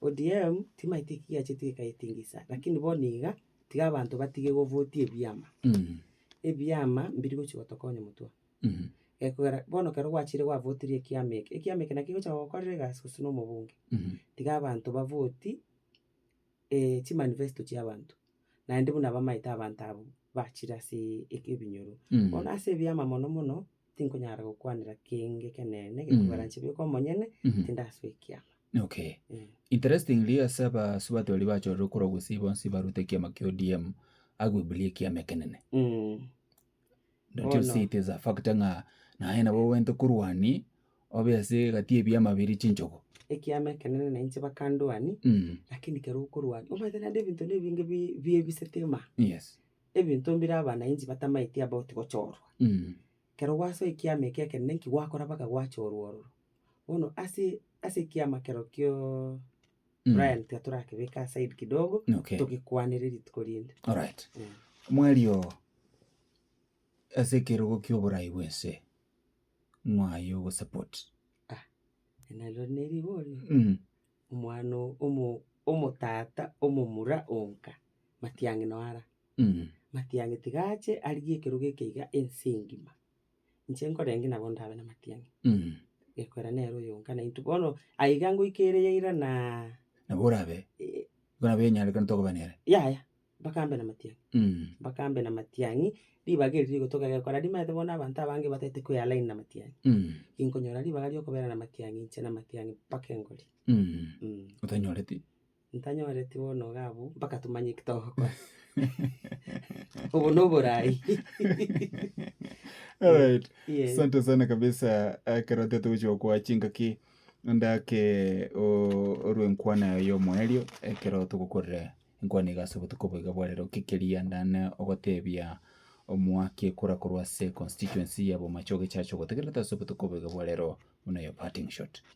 ODM timaeti ki yacheti ekayetingisa lakini bono iga tiga abanto batige go vote ebiama. Ebiama mbiri gochi gotokonya motwe. Gekogera bono ekero gwachire gwa votirie ekiama eke, ekiama eke naki gegocha gokorera egasi gose na omobunge. Tiga abanto ba vote. chimanifesto chi'abanto, naende buna bamaete abanto abwo bachire ase ebinyoro. Bono ase ebiama mono mono, tinkonyara gokwanera kenge ekenene gekogarancha bweka omonyene, tindasoa ekiama. Okay. Interestingly ase abasubati baria bachorire korwa gusii bonsi barwete ekiama kia ODM, agwe buri ekiama ekenene. That you see it is a fact ng'a naye nabo obwente korwani obe ase egati y'ebiama biria chinchogo. ekiama ekenene na inche bakandwani Mm. lakini kero okorwani omanyete naende ebinto na ebinge bi- biebisitima Yes. ebinto mbire abananchi batamaeti about gochorwa Mm. kero gwasoa ekiama eke ekenene nki gwakora mpaka gwachorwa ororo bono ase ase ekiama kero kioo Mm. Brian tiga torakebeke aside kidogo Okay. togekwanere rituko rinde Alright. Mm. Mwario ase ekerogo kia oborai bw'ense mwaye ogosupport. nalio nerigorio Mm. omwana o- omo- omotata omomura onka matiang'i noara Mm. matiang'i tiga ache arigie ekerogo eke iga ense engima Inche nkorenge nabo ndabe namatiang'i, Mm. gekoera nere oyonka na intwe bono, aiga ngoika ere ya ira naa Nabo orabe, eh, orabe onyarekane tokoba nere. yaya, mpaka mbe namatiang'i. Mm. Mpaka mbe namatiang'i, ribaga eri rigotoka gekora rimaete bono abanto abange batagete koealign namatiang'i. Mm. Inkonyora ribaga riokobera namatiang'i inche namatiang'i mpaka engorie. Mm. Mm. Otanyoreti. Ntanyoreti bono iga abwo mpaka tomanye eki togokora. Obo noborai. Alright. Yeah. Asante sana kabisa ekero tete gochia gokoa chingaki ndake o- orwe enkwana yaye y'omoerio ekero togokorera enkwana iga ase obotuko boiga bwa rero ki keria ndane ogotebia omwaki ekura korwa ase constituency ya bomachoge church ogotegerete ase obotuko boiga bwa rero buna your parting shot.